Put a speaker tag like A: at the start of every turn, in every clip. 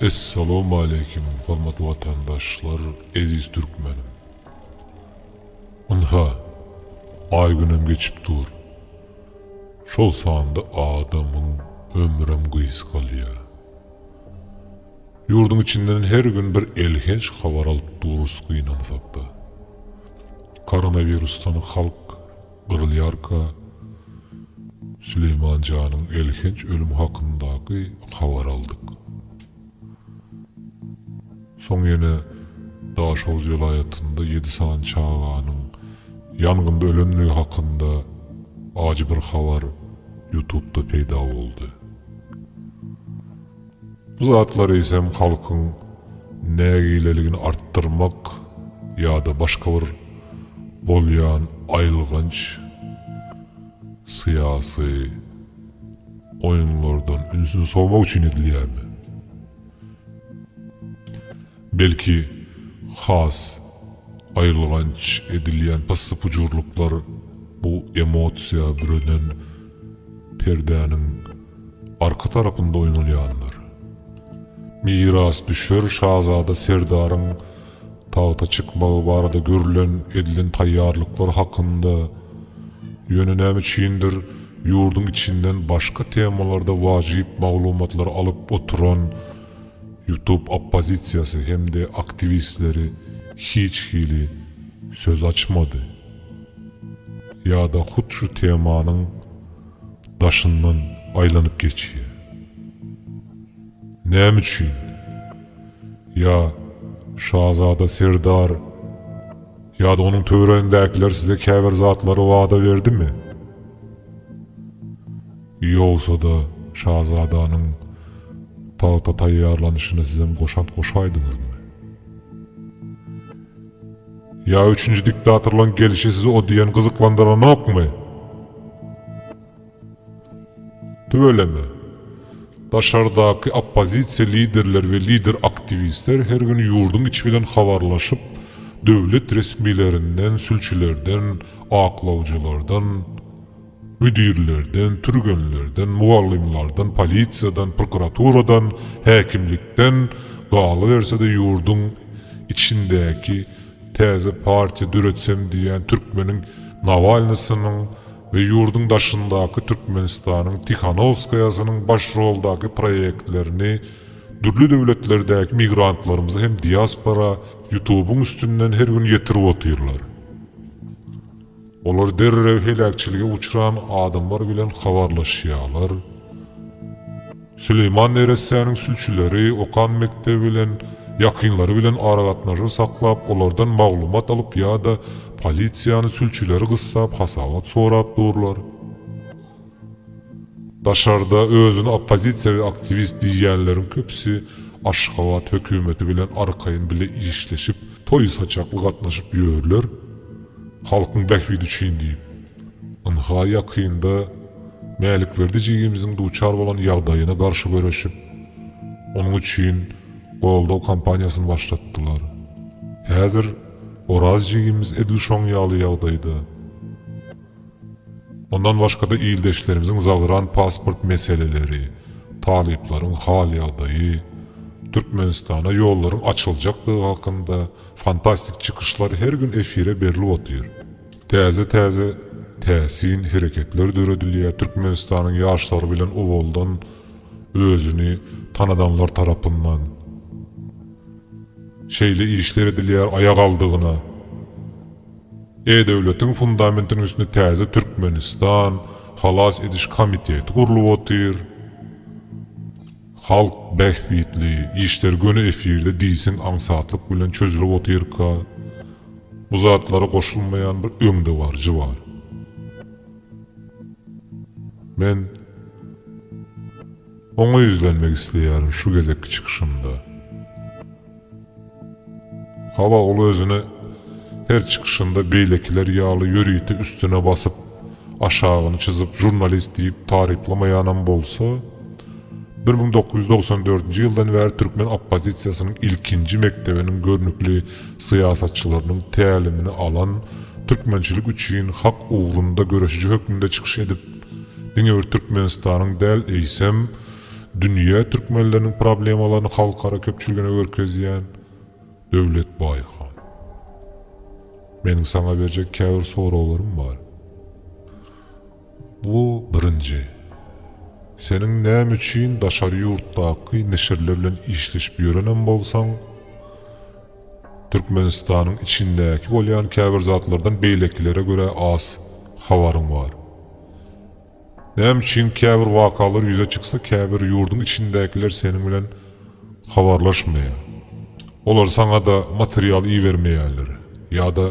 A: Essalawmaleýkim hormatly watandaşlar eziz türkmenim. Ynha, aý günem geçip dur. Şol sanda adamyň ömrem gysgalýa. Ýurduň içinden her gün bir elhenç habar alyp durus gynansakda. Koronawirusdan halk. Gyrylýarka, Süleýman janyň elhenç ölümi hakyndaky habary aldyk. Soň ýene Daşoguz welaýatynda ýedi sany çaganyň ýangynda ölenligi hakynda ajy bir habar Ýutubda peýda boldy. Bu zatlar eýsem halkyň nägileligini artdyrmak ýa-da başga bir bolýan aýylganç syýasy oýunlardan ünsüni sowmak üçin edilýärmi? Belki, has aýylganç edilýän pyssy-pujurlyklar bu emosiýa bürenen perdäniň arka tarapynda oýnalýandyr. Mirasdüşer şazada Serdaryň tagta çykmagy barada görülen, edilen taýýarlyklar hakynda, ýöne näme üçindir, ýurduň içinden başga temalarda wajyp maglumatlary alyp oturan, Youtube oppozisiýasy hem-de aktiwistleri hiç hili söz açmady. Ýa-da hut şu temanyň daşyndan aýlanyp geçýär. Näme üçin? Ýa şazada Serdar ýa-da onuň töweregindäkiler size käbir zatlary wada berdimi? Ýogsa-da, şazadanyň tagta taýýarlanyşyna sizem goşant goşaýdyňyzmy? Ýa üçünji diktatorlaryň gelşi sizi o diýen gyzyklandyranokmy? Tüweleme, daşardaky oppozisiýa liderleri we lider-aktiwistler her gün ýurduň içi bilen habarlaşyp, döwlet resmilerinden, sülçülerden, aklawjylardan, Müdirlerden, türgenlerden, mugallymlardan, polisiýadan, prokuraturadan, häkimlikden, galyberse-de ýurduň içindäki täze partiýa döretsem diýýän türkmeniň Nawalnysynyň we ýurduň daşyndaky Türkmenistanyň Tihanowskaýasynyň baş roldaky proýektlerini dürli döwletlerdäki migrantlarymyza hem diaspora Ýutubyň üstünden her gün ýetirip otyrlar. Olar derrew heläkçilige uçran adamlar bilen habarlaşýarlar. Süleýman neressäniň sülçüleri okan mekdebi bilen, ýakynlary bilen aragatnaşyk saklap, olardan maglumat alyp ýa-da polisiýany sülçüleri gyssap hasabat sorap durlar. Daşarda özüni oppozisiýaly aktiwist diýýänleriň köpüsi Aşgabat hökümeti bilen arkaýyn bile işleşip, toý-saçakly gatnaşyp ýörler, halkyň bähbidi üçin diýip. Ynha, ýakynda Mälikberdi jigimiziň duçar bolan ýagdaýyna garşy göreşip, onuň üçin goldaw kampaniýasyny başlatdylar. Häzir Oraz jigimiz edil şoň ýaly ýagdaýda. Mundan başga-da ildeşlerimiziň zagran pasport meseleleri, talyplaryň hal-ýagdaýy, Türkmenistana ýollaryň açyljakdygy hakynda fantastik çykyşlar her gün efire berlip otyr. Täze-täze täsin hereketler döredilýär, Türkmenistanyň ýaşlary bilen owaldan özüni tanadanlar tarapyndan şeýle işler edilýär, aýagaldygyna, E-döwletiň fundamentiniň üstünde täze Türkmenistan halas ediş komiteti gurlup otyr. Halk bähbitli işler göni efirde diýseň aňsatlyk bilen çözülip otyrka, bu zatlara goşulmaýan bir öňdebaryjy bar. Men. Oňa ýüzlenmek isleýärin şu gezekki çykyşymda. Hawa, ol özüni her çykyşynda beýlekiler ýaly ýörite üstüne basyp, aşagyny çyzyp žurnalist diýip taryplamaýanam bolsa, bir müň dokuz ýüz dogsan dördünji ýyldan bäri türkmen oppozisiýasynyň ilkinji mekdebiniň görnükli syýasatçylarynyň tälimini alan, türkmençilik üçin hak ugrunda göreşiji hökmünde çykyş edip, Diňe bir Türkmenistanyň däl, eýsem, dünýä türkmenleriniň problemalaryny halkara köpçüligine görkezýän Döwlet Baýhan. Meniň saňa berjek käbir soraglarym bar. Bu birinji. Seniň näme üçin daşary ýurtdaky neşirler bilen işleşip ýörenem bolsaň, Türkmenistanyň içindäki bolýan käbir zatlardan beýlekilere görä az habaryň bar. Näme üçin käbir wakalar ýüze çyksa käbir ýurduň içindäkiler seniň bilen habarlaşmaýar. Olar saňa-da material ibermeýärler. Ýa-da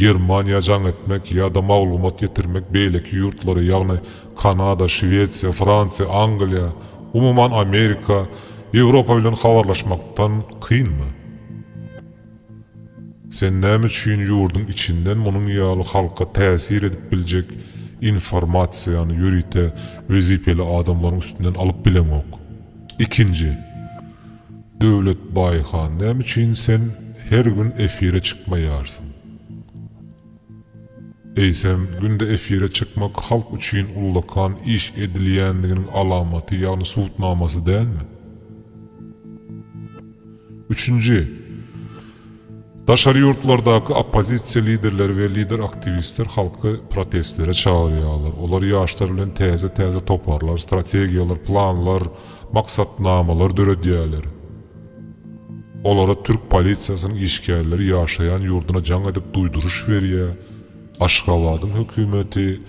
A: Germaniýa jaň etmek ýa-da maglumat getirmek beýleki ýurtlara ýagny Kanada, Şwesiýa, Fransiýa, Angliýa, umuman Amerika, Ýewropa bilen habarlaşmakdan kynmy? Sen näme üçin ýurduň içinden munuň ýaly halka täsir edip biljek informasiýany ýörite wezipeli adamlaryň üstünden alyp bileňok? Ikinji, Döwlet Baýhan, näme üçin sen her gün efire çykmaýarsyň? Eýsem, günde efire çykmak halk üçin ullakan iş edilýändiginiň alamaty, ýagny subutnamasy dälmi? Üçünji, daşary ýurtlardaky oppozisiýa liderleri we lider-aktiwistler halky protestlere çagyrýarlar. Olar ýaşlar bilen täze-täze toparlar, strategiýalar, planlar, maksatnamalar döredýärler. Olara türk polisiýasynyň işgärleri ýaşaýan ýurduna jaň edip duýduryş berýär, Aşgabadyň hökümeti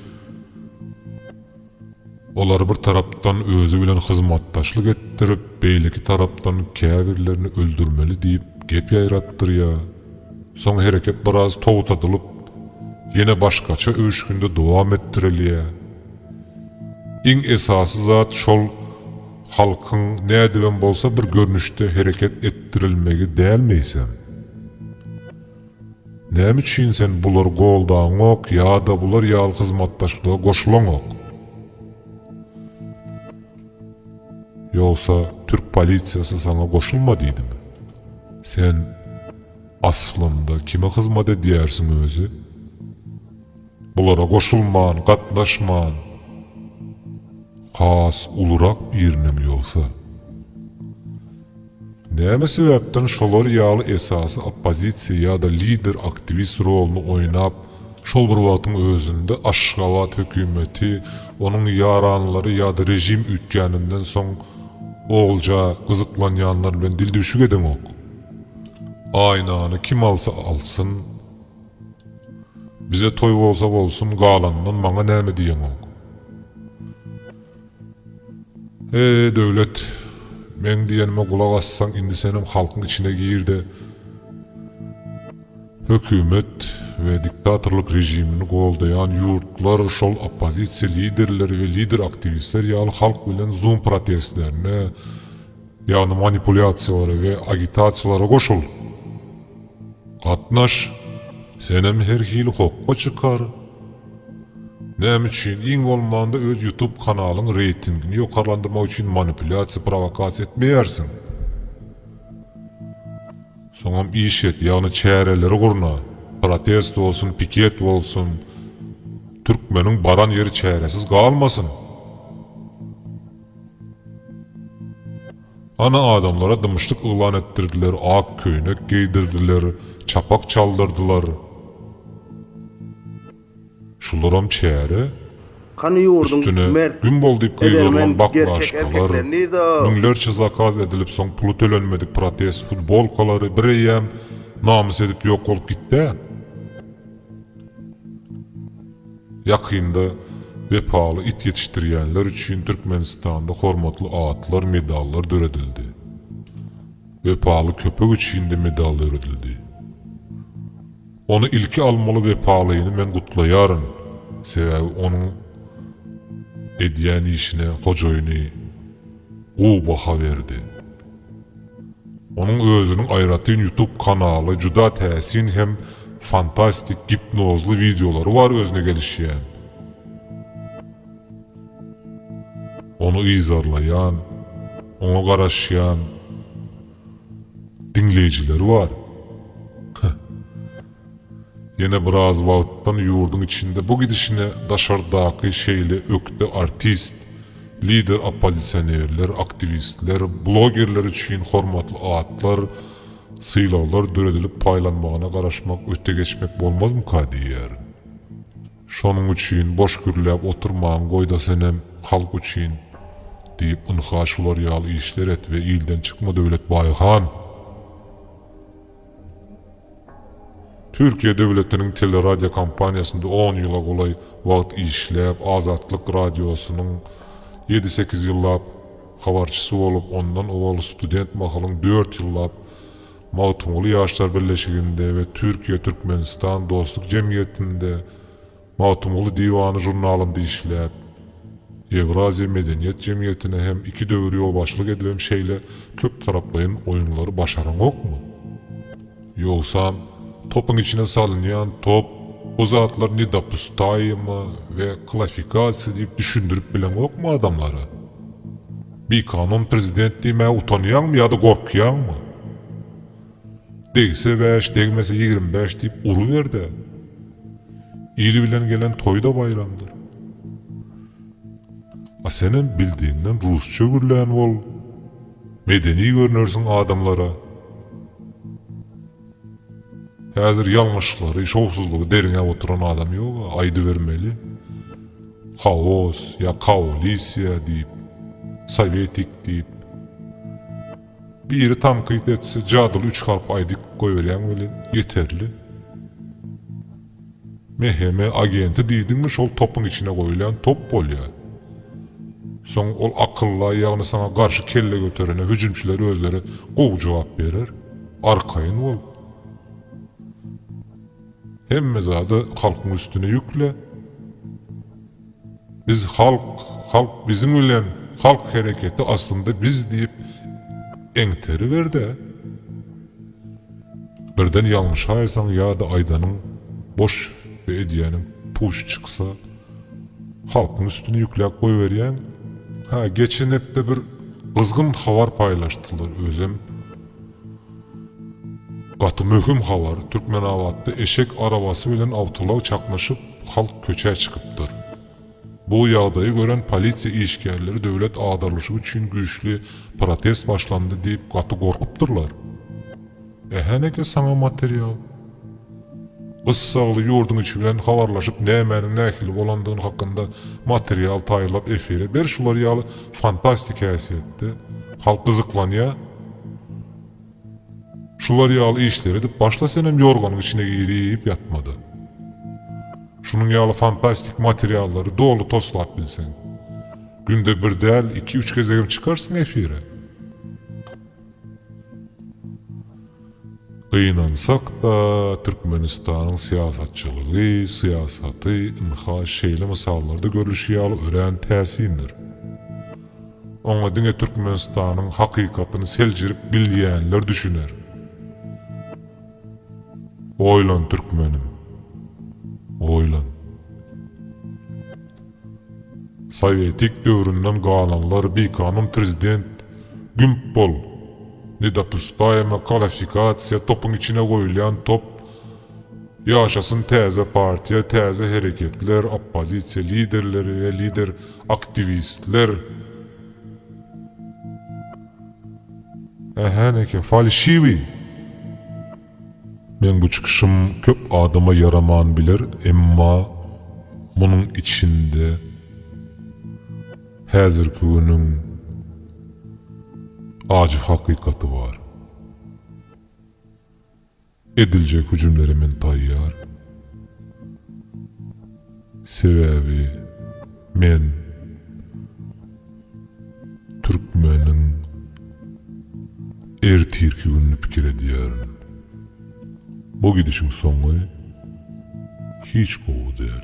A: olary bir tarapdan özi bilen hyzmatdaşlyk etdirip, beýleki tarapdan käbirlerini öldürmeli diýip gep ýaýratdyrýar. Soň hereket biraz togtadylyp, ýene başgaça öwüşginde dowam etdirilýär. Iň esasy zat şol, Halkyň nädibem bolsa bir görnüşde hereket etdirilmegi dälmi sen? Näme üçin sen bulary goldaňok ýa-da bular ýaly hyzmatdaşlyga goşulaňok? Ýogsa türk polisiýasy saňa goşulma diýdimi? Sen aslynda kime hyzmat edýärsiň özi? Bulara goşulman, gatnaşman, has ulurak birinem ýogsa. Näme sebäpden şolar ýaly esasy oppozisiýa ýa-da lider aktiwist roluny oýnap, şol bir wagtyň özünde Aşgabat hökümeti, onuň ýaranlary ýa-da režim üýtgäninden soň olja gyzyklanýanlar bilen dildüwşük edeňok? Aýnany kim alsa alsyn, Bize toý bolsa bolsun galanyndan maňa näme diýeňok. Eý Döwlet meň diýenime gulak assaň indi senem halkyň içine girde hökümet we diktatorlyk režimini goldaýan ýurtlar şol oppozisiýa liderleri we lider aktiwistler ýaly halk bilen zoom protestlerine Ýagny manipulýasiýalara we agitasiýalara goşul. Gatnaş, senem her hili hokga çykar. Näme üçin? Iň bolmanda öz ýutub kanalyň reýtingini ýokarlandyrmak üçin manipulýasiýa prowokasiýa etmeýärsiň. Soňam iş et, ýagny çäreleri gurna, protest bolsun, piket bolsun, türkmeniň baran ýeri çäresiz galmasyn. Ana adamlara dymyşlyk yglan etdirdiler, ak köýnek geýdirdiler, çapak çaldyrdylar. Şularam çäre. Hany ýurduň Üstüne mert, Gün bol diýip edermen, gygyrylan gerçek baklaşkalar, erkekleri nirde-a? müňlerçe zakaz edilip soň puly tölenmedik protest futbolkalary bireýýäm namys edip ýok bolup gitd-ä. Ýakynda Wepaly it ýetişdirýänler üçin Türkmenistanda hormatly atlar, medallar döredildi. Wepaly köpek üçin-de medal döredildi. Ony ilki almaly Wepalyny men gutlaýaryn, sebäbi onuň edýän işine hojaýyny, gowy baha berdi. Onuň özüniň aýratyn ýutup kanaly juda täsin hem fantastik gipnozly wideolary bar özüne gelişýän, ony yzarlaýan, oňa garaşýan diňleýjileri bar. Ýene biraz wagtdan ýurduň içinde bu gidişine daşardaky şeýle ökde artist, lider oppozisionerler, aktiwistler, blogerler üçin hormatly atlar, sylaglar döredilip paýlanmagyna garaşmak öte geçmek bolmazmyka diýýärin. Şonuň üçin boş gürläp oturmaň goýda senem halk üçin diýip ynha şular ýaly işler et we ilden çykma Döwlet Baýhan! Türkiýe döwletiniň teleradiokompaniýasynda on ýyla golaý wagt işläp, Azatlyk Radiosynyň ýedi-sekiz ýyllap habarçysy bolup, ondan owal student mahalyň dört ýyllap Magtymguly Ýaşlar birleşiginde we Türkiýe-Türkmenistan dostluk jemgyýetinde Magtymguly diwany žurnalynda işläp, Ýewraziýa medeniýet jemgyýetine hem iki döwür ýolbaşçylyk edibem şeýle köptaraplaýyn oýunlary başaraňokmy? Ýogsam, topyň içine salynýan top, bu zatlar nedopustaýyma we klafikasiýa diýip düşündirip bileňokmy adamlara? Bikanun prezident diýmäge utanýaňmy ýa-da gorkýaňmy? Degse bäş, degmese ýigrimi bäş diýip uruber-de, il bilen gelen toý-da baýramdyr. A senem bildigiňden rusça gürlän bol, medeni görnersiň adamlara. Häzir ýalňyşlyklary, şowsuzlygy derňäp oturan adam ýog-a, aýdybermeli. Haos ýa kaolisiýa diýip, sowetik diýip. Biri tankyt etse jadyly üç harp aýdyp goýberýäň welin ýeterli. MHM agenti diýdiňmi şol topuň içine goýulýan top bolýar. Soň ol akylla ýagny saňa garşy kelle göterene hüjümçiler özleri gowy jogap berer. Arkaýyn bol. Hemme zady halkyň üstüne ýükle. Biz halk, halk biziň bilen, halk hereketi aslynda biz diýip eňteriber-de, birden ýalňyş aýtsaň ýa-da aýdanyň boş we edýäniň puç çyksa, halkyň üstüne ýükläp goýberýäň. Hä, geçen hepde bir gyzgyn habar paýlaşdylar, özem. Gaty möhüm habar, Türkmenabatda eşek arabasy bilen awtoulag çaknyşyp, halk köçä çykypdyr. Bu ýagdaýy gören polisiýa işgärleri döwlet agdarlyşy üçin güýçli protest başlandy diýip gaty gorkupdyrlar. Ähä näke saňa material. Gyssagly ýurduň içi bilen habarlaşyp nämäniň nähili bolandygyny hakynda material taýýarlap efire ber şular ýaly fantastik häsiýetde halk gyzyklanýa şular ýaly işleri edip başla senem ýorganyň içine girip ýatmada şunuň ýaly fantastik materiallary doly toslap bilseň günde bir däl iki üç gezegem çykarsyň efire. Gynansak-da, Türkmenistanyň syýasatçylygy, syýasaty, ynha, şeýle mysallarda görlüşi ýaly örän täsindir. Oňa diňe Türkmenistanyň hakykatyny seljerip bilýänler düşüner. Oýlan, türkmenim, oýlan! Sowetik döwründen galanlar bikanun prezident gümp bol nedopusdaýma kalafikasiýa topuň içine goýulýan top ýaşasyn täze partiýa täze hereketler oppozisiýa liderleri we lider aktiwistler ähä neke falşiwi. Meň bu çykyşym köp adama ýaraman biler emma munuň içinde häzirki günüň ajy hakykaty bar. Ediljek hüjümlere men taýýar. Sebäbi men türkmeniň ertirki gününi pikir edýärin. Bu gidişiň soňy hiç gowy däl.